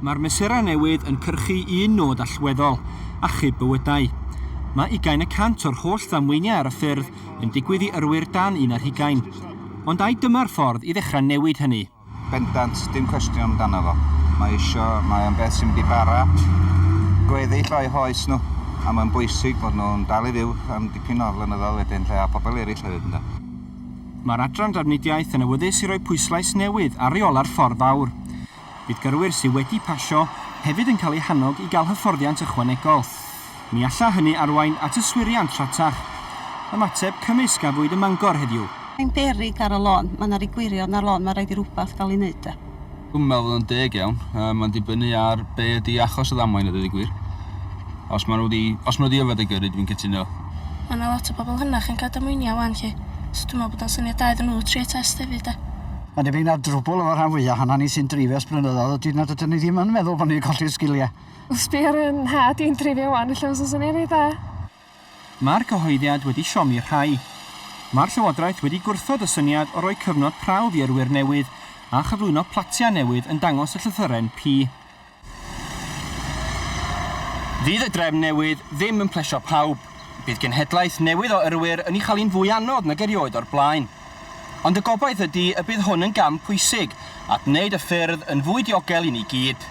Mae'r mesurau newydd yn cyrchu un nod allweddol, achub bywydau. Mae ugain y cant o'r holl ddamweiniau ar y ffyrdd yn digwydd i yrwyr dan un ar hugain. Ond ai dyma'r ffordd i ddechrau newid hynny? Bendant, dim cwestiwn amdano fo. Mae isio, mae o'n beth sy'n mynd i bara gweddill o'u hoes nhw, a mae'n bwysig fod nhw'n dal i fyw am dipyn o flynyddoedd wedyn 'lly, a pobl eraill hefyd ynde. Mae'r Adran Drafnidiaeth yn awyddus i roi pwyslais newydd ar reola'r ffordd fawr. Bydd gyrwyr sydd wedi pasio hefyd yn cael eu hannog i gael hyfforddiant ychwanegol. Ni alla hynny arwain at yswiriant rhatach. Ymateb cymwys gafwyd ym Mangor heddiw. Mae'n beryg ar y lôn. Mae 'na ry gwirion ar lôn, mae raid i rywbeth gael ei wneud 'de. Dwi'm yn meddwl fod o'n deg iawn. Yy mae'n dibynnu ar be' ydi achos y ddamwain a deud y gwir. Os ma' nw 'di os ma' nw 'di yfed a gyrru dwi'n cytuno. Ma' 'na lot o bobol hynach yn ca'l damweinia' ŵan 'lly so dwi me'wl bod o'n syniad da iddyn nhw trio test hefyd 'de. Mae'n debyg na drwbwl efo rhan fwya hana ni sy'n dreifio ers blynyddoedd ydy nad ydyn ni ddim yn meddwl bod ni'n colli'r sgilia. Sbia ar fy nhad i'n dreifio wan, ella fysa syniad reit dda. Mae'r cyhoeddiad wedi siomi rhai. Mae'r Llywodraeth wedi gwrthod y syniad o roi cyfnod prawf i yrwyr newydd a chyflwyno platiau newydd yn dangos y llythyren P. Fydd y drefn newydd ddim yn plesio pawb, bydd genhedlaeth newydd o yrwyr yn ei chael hi'n fwy anodd nag erioed o'r blaen. Ond y gobaith ydi y bydd hwn yn gam pwysig at wneud y ffyrdd yn fwy diogel i ni gyd.